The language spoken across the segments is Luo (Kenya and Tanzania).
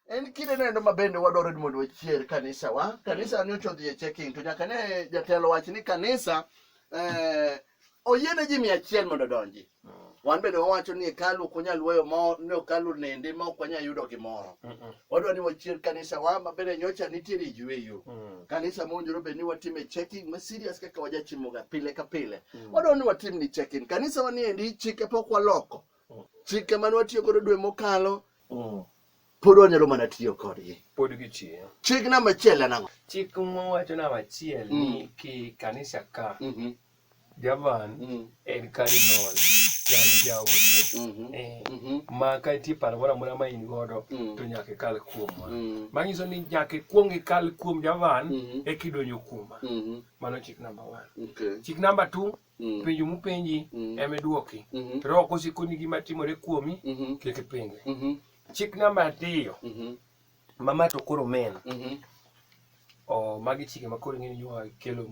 en kinde nendo ma bende wadwaro ni mondo wachier kanisa wa kanisa ni ochodhi e checking to nyaka ne jatelo wach ni kanisa eh, oyiene ji mia achiel mondo odonji wan bende wawacho ni hekalu ok wanyal weyo ma ne hekalu nende ma ok wanyal yudo gimoro wadwa ni wachier kanisa wa ma bende nyocha nitiere yweyo kanisa mowinjore bed ni watime checking ma serious kaka wajachimoga pile ka pile wadwa ni watim ni checking kanisa wa niendi chike pok waloko chike mane watiyo godo dwe mokalo Mm. pod wanyalo mana tiyo kodgi pod gitiyo chik namba achiel en ang'o chik mowacho namba achiel mm. ni ki kanisa ka mm -hmm. javan mm. en cardinal yani jaote mm -hmm. eh, mm -hmm. ma ka itie paro moro amora ma in godo mm. to nyaka ikal kuomwa mm. manyiso ni nyaka ikwong ikal kuom javan mm -hmm. ekidonjo kuoma mm -hmm. mano chik namba one okay. chik namba two Mm. Penjo mupenji mm. ema iduoki. Mm -hmm. Roho kosekoni gima timore kuomi mm -hmm. kik ipenje. Mm -hmm. Chik namba ariyo mm -hmm. mama to koro men mm -hmm. oh, magi chike ma koro ing'eni yoa kelo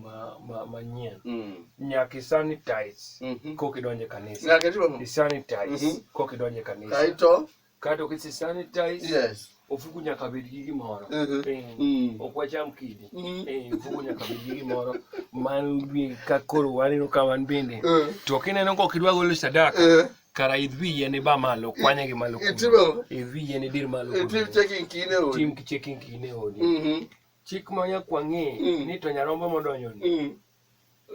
manyien ma, ma mm. nyaka isanitize mm -hmm. kok idonje kanisa nyaka isanitize mm -hmm. kok idonje kanisa kaito Kato ki si sanitize. Yes. Ofuku nyaka bed gi gimoro. Uh -huh. e, mm. Ok wacham kidi. Mm. Mm-hmm. E, eh, ofuku nyaka bed gi gimoro. Man bi ka koro waneno ka wan bende. Uh. To kineno kok idwa golo sadaka. Uh. Kara idhi yene ba malo kwanye gi malo. Itimo. Idhi yene dir malo. Itim checking kine odi. Tim checking kine odi. Mhm. Mm Chik ma nyakwang'e mm. ni to nyarombo modonjo ni. Mm.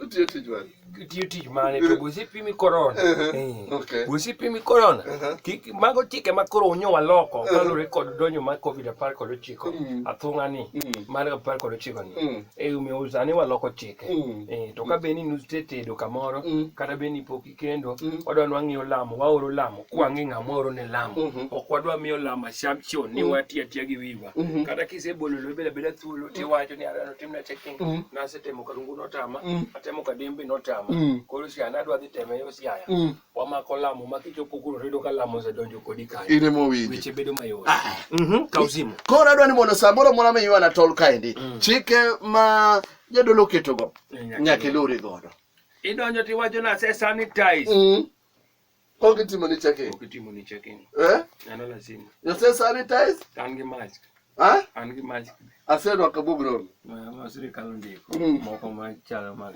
Otiyo tich mane? Otiyo tich mane to gosi pimi korona. Eh. Gosi pimi korona. Kik mago chike ma koro unyo waloko kalure kod donjo mar Covid apar kod ochiko mm. athung'a ni mm. mar apar kod ochiko ni. Mm. E omiyo sani waloko chike. Eh, to ka be ni nustetedo kamoro kata be ni pok kendo mm. wadwa ni wang'iyo lamo waoro lamo kwang'e ng'ama oro ne lamo mm-hmm. ok wadwa miyo lamo assumption ni mm. wati atiya gi wiwa mm-hmm. kata kisebolo lo bela bela thuolo mm. tiwacho ni arano timna checking mm. nasetemo karungu notama atemo kadembe notama koro siana adwa dhi teme yo siaya wamako lamo ma kichopo kuro redo ka lamo osedonjo kodi kanyo ine mowinjo weche bedo mayot ah. mm-hmm. kausimo koro adwa ni mondo samoro moro miywa na tol kaendi chike ma jadolo ketogo nyaka ilure godo Idonjo ti wajo na se sanitize. Mm. Onge timo ni checking. Onge timo ni checking. Eh? Nano lazima. Yo se sanitize? Kan gi mask. Ha? An gi mask. Asedo akabugro. Ma sirikal ndiko. Mm. Moko ma chalo mag.